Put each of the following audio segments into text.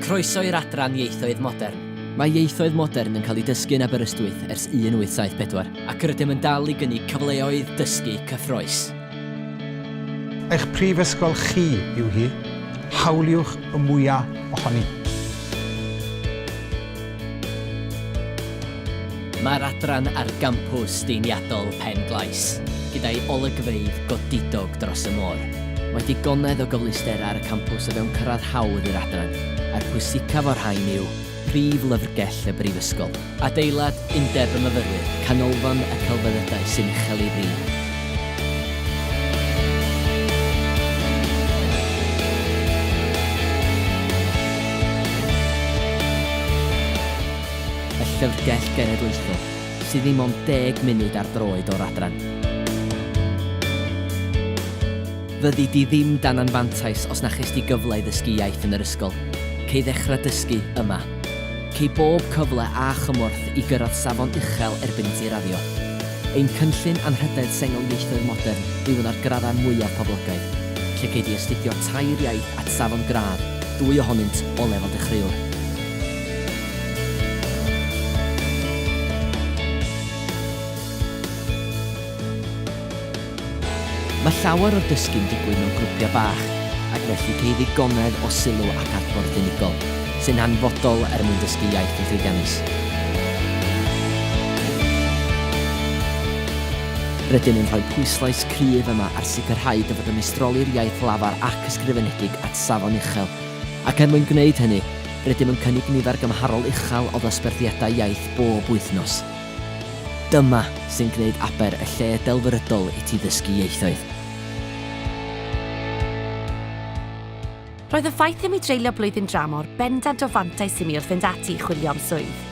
Croeso i'r adran Ieithoedd Modern. Mae Ieithoedd Modern yn cael ei dysgu yn Aberystwyth ers 1874. Ac rydym yn dal i gynnig cyfleoedd dysgu cyffrous. Eich prifysgol chi yw hi, hawliwch y mwyaf ohoni! Mae'r adran ar gampws deiniadol Pen Glais, gyda'i olygfeydd godidog dros y môr. Mae digonedd o gyfleusterau ar y campws o fewn cyrraedd hawdd i'r adran, a'r pwysicaf o'r rhain yw prif lyfrgell y brifysgol. Adeilad Undeb y Myfyrwyr, Canolfan y Celfyddydau sy'n uchel ei frig. Y Llyfrgell Genedlaethol, sydd ddim ond deg munud ar droed o'r adran. Fyddi di ddim dan anfantais os na ches di gyfle i ddysgu iaith yn yr ysgol. Cei ddechrau dysgu yma. Cei bob cyfle a chymorth i gyrraedd safon uchel erbyn i ti raddio. Ein cynllun anrhydedd sengl ieithoedd modern yw un o'r graddau mwyaf poblogaidd, lle gei di astudio tair iaith at safon gradd, dwy ohonynt o lefel dechreuwr. Mae llawer o'r dysgu'n digwydd mewn grwpiau bach ac felly ceir ddigonedd o sylw ac adborth unigol, sy'n hanfodol er mwyn dysgu iaith yn llwyddiannus. Rydym yn rhoi pwyslais cryf yma ar sicrhau dy fod yn meistroli'r iaith lafar ac ysgrifenedig at safon uchel, ac er mwyn gwneud hynny, rydym yn cynnig nifer gymharol uchel o ddosberthiadau iaith bob wythnos. Dyma sy'n gwneud Aber y lle delfrydol i ti ddysgu ieithoedd. Roedd y ffaith i mi dreulio blwyddyn dramor bendant o fantais i mi wrth fynd ati i chwilio am swydd.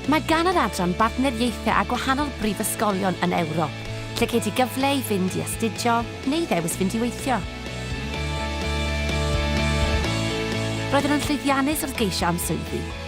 Mae gan yr adran bartneriaethau â gwahanol brifysgolion yn Ewrop, lle gei di gyfle i fynd i astudio neu ddewis fynd i weithio. Roeddwn yn llwyddiannus wrth geisio am swyddi.